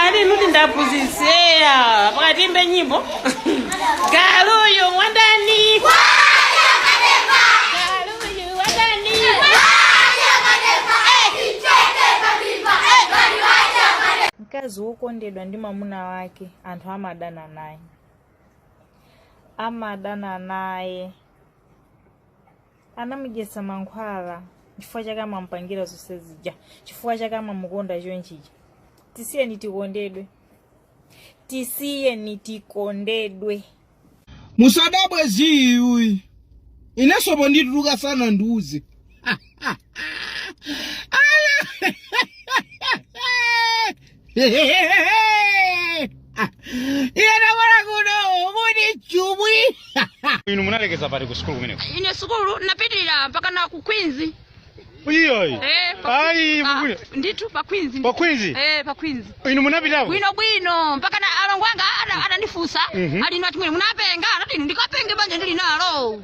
ali nuti ndi aphunzitsi eya pakati imbe nyimbo galuyu wandani galuyu wandani mkazi wokondedwa ndi mwamuna wake anthu amadana naye amadana naye anamudyetsa mankhwala chifukwa chake amamupangira zonse zija chifukwa chake amamukonda chonchija tisiyeni tikondedwe tisiyeni tikondedwe musadabwe ziiyi inenso pondituluka sanandiuze inu munalekeza pati ku sukulu kumeneko ine sukulu napitirira mpakana ku Queens iyoyi eh pa- ayi ah, mukule ndithu pa Queens pa Queens eh pa Queens inu munapitako bwino bwino mpakana alongo anga ana- anandifunsa Mhm. ali nati mwene munapenga anati ndikapenge banja ndili nalo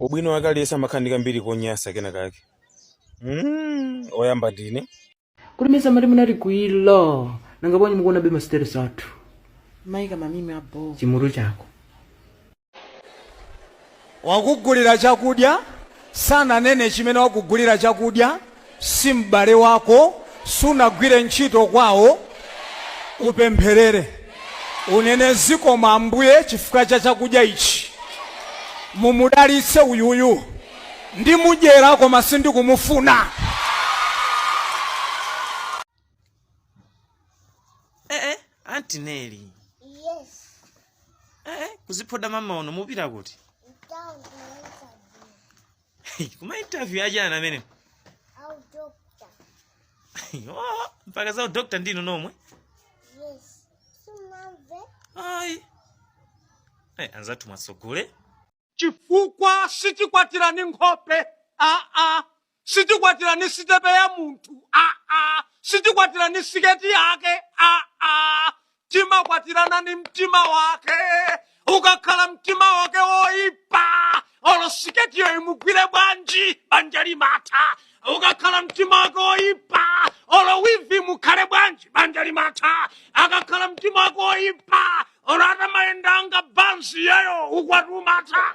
ubwino wake aliyense amakhala ndi kambiri konyasa kenakake mm, oyamba ndine kuti mesa mati munatikwiyira nanga bwanji mukuonabe ma status athu maika ma meme abho chimutu chako wakugulira chakudya sananene chimene wakugulira chakudya si m'bale wako sunagwire ntchito kwawo upempherere unene zikomo ambuye chifukwa cha chakudya ichi mumudalitse uyuyu ndimudyera koma sindikumufuna eh, eh, Auntie Nelly Yes. eh, eh, kuziphoda mmawa uno mupita kuti Town. kuma interview aja ana amene a udokta oh, mpaka za udokta ndinu nomwe yes sumamve ayi eh, anzathu masogole chifukwa sitikwatirana nkhope aa sitikwatirana sitepe ya munthu aa sitikwatirana siketi yake aa timakwatirana ndi mtima wake ukakhala mtima wake woipa olo siketiyo imugwire bwanji banja limatha ukakhala mtima wake woipa olo wivi imukhale bwanji banja limatha akakhala mtima wake woipa olo atamayenda nga bansi iyeyo ukwati umatha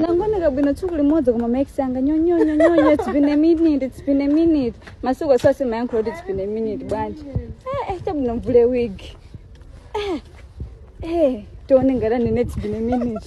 nangooneka bwino tsiku limodzi koma ma ex anga nyonyonyonyonya it's been a minute it's been a minute masiku asase amayankhula kuti it's been a minute bwanji eh, eh, chabwino ndivule wig eh, eh, tione ngati anene it's been a minute